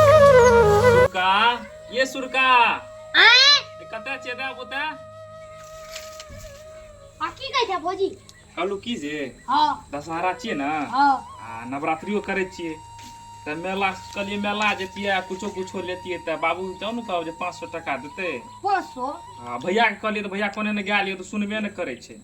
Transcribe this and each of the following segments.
सुरका ये सुरका आए ए, कतऽ छियै दा पोता आ की कहै छै भौजी कहलू की जे हाँ दशहरा छियै ने हाँ आ नवरात्रियो करै छियै तऽ मेला कहलियै मेला जैतियै आ कुछो कुछो लेतियै तऽ बाबू जाउ ने कहब जे पाँच सए टाका देतै पाँच सौ आ भैयाके कहलियै तऽ भैया कोने ने गेल यऽ तऽ सुनबे ने करै छै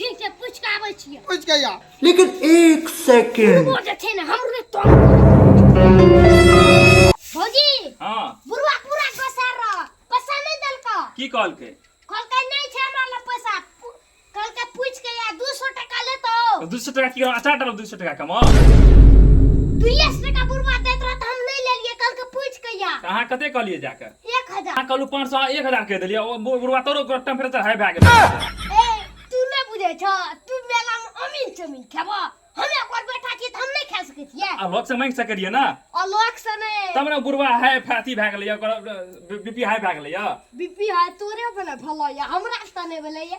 ठीक छै पूछ के आबै छियै पूछ के या लेकिन एक सेकंड वो जे छै ने हमरे तो भौजी हां बुरुआ पूरा कसार रह पैसा नै देलका की कहल के कहल के नै छै हमरा ल पैसा कहल के पूछ के या 200 टका ले तो 200 टका की अचार डालो 200 टका कमा 200 टका बुरुआ देत रह त हम नै लेलिए कहल के पूछ के या कहां कते कहलिए जाके एक हजार अहाँ कहलहुँ पाँच सए एक हजार कहि देलियै ओ बु- बुढ़वा तोरो टेम्परेचर हाई भए गेलै ए तू नहि बुझै छऽ तू मेलामे अमीन चमीन खेबऽ हम एक बार बैठा छियै तऽ हम नहि खा सकै छियै आ लोकसँ माँगि सकै रहियै ने अलग से नहि तब ने बुढ़वा हाई अथी भए गेलैए ओकर बीपी हाई भए गेलैए बीपी हाई तोरे बने भलैया हमरा से तऽ नहि भेलैया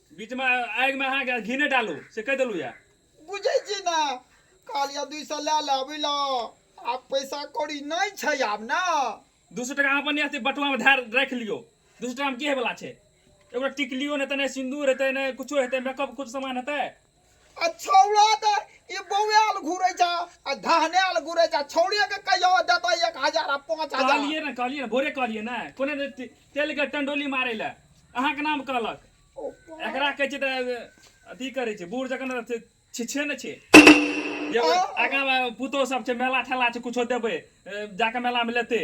बीच में आग में अहाँ घी नहीं डालू से कह दिलू या बुझे छी ना कहलिया दुई सौ ला ला बुझल आब पैसा कौड़ी नहीं छै आब ना दू सौ टका अपन अथी बटुआ में धार रख लियो दू सौ टका में की है वाला छै एगो टिकलियो नहीं तो नहीं सिंदूर हेतै नहीं कुछो हेतै मेकअप कुछ सामान हेतै आ छौड़ा तऽ ई बौआल घुरै छ आ धहनायल घुरै छ छौड़े के कहियो देतै एक हजार आ पाँच हजार कहलिए ने कहलिए ने भोरे कहलिए ने कोने ने ते- तेल के टंडोली मारे ले अहाँ के नाम कहलक एकरा कहै छै तऽ अथी करै छै बूढ़ जखन अथी छिछे ने छै जे आगाँ मे पुतोह सब छै मेला ठेला छै कुछो देबै ए, जाके मेला मे लेतै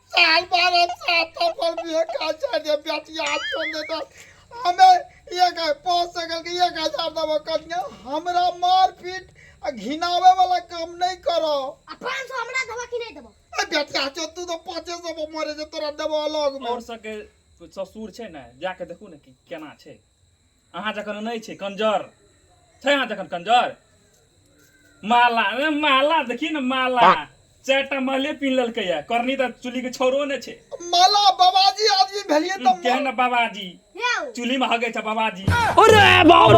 साल बारह साल तक बोल भी एक हजार जे बेटी आज तो दे दो हमें एक पाँच सौ के एक हजार दबो कन्या हमरा मार पीट आ घिनावे वाला काम नहीं करो आ पाँच सौ हमरा देबो कि नहीं देबो ए बेटी आज तू तो पाँचे सौ पर मरे जे तोरा देबो अलग में और सके ससुर छै ने जाके देखू ने कि केना छै अहाँ जखन नहि छै कंजर छै अहाँ जखन कंजर माला ए, माला देखी ने माला चारि टा महले पीन लेलकै या करनी तऽ चुली के छोरो नहि छै माला बाबाजी आदमी भेलिए तऽ केहन ने बाबाजी चुली में हगे छै बाबाजी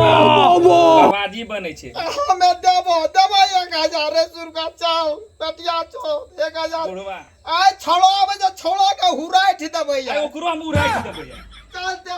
बाबाजी बने छै हमे देबो देबो एक हजार रुपया चाउ पेटिया छो एक हजार बुढ़वा आइ छोड़ो आबै जे छोड़ो के हुराइ देबै आइ ओकरो हम उड़ाइ देबै या। चल दे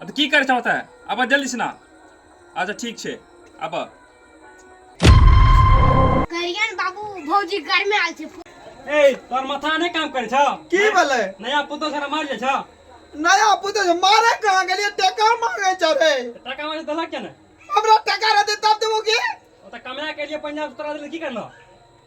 अब की कर छौ तै अब जल्दी से ना अच्छा ठीक छे अब करियन बाबू भौजी घर में आल छे ए तोर माथा नहीं काम करे छौ की बोले नया पुतो सारा मार जे छौ नया पुतो से मारे कहां गेलिए टका मांगे चरे टका मांगे दला के ने हमरा टका रहते तब देबो की ओ त कमरा के लिए पंजाब उतरा दे की करना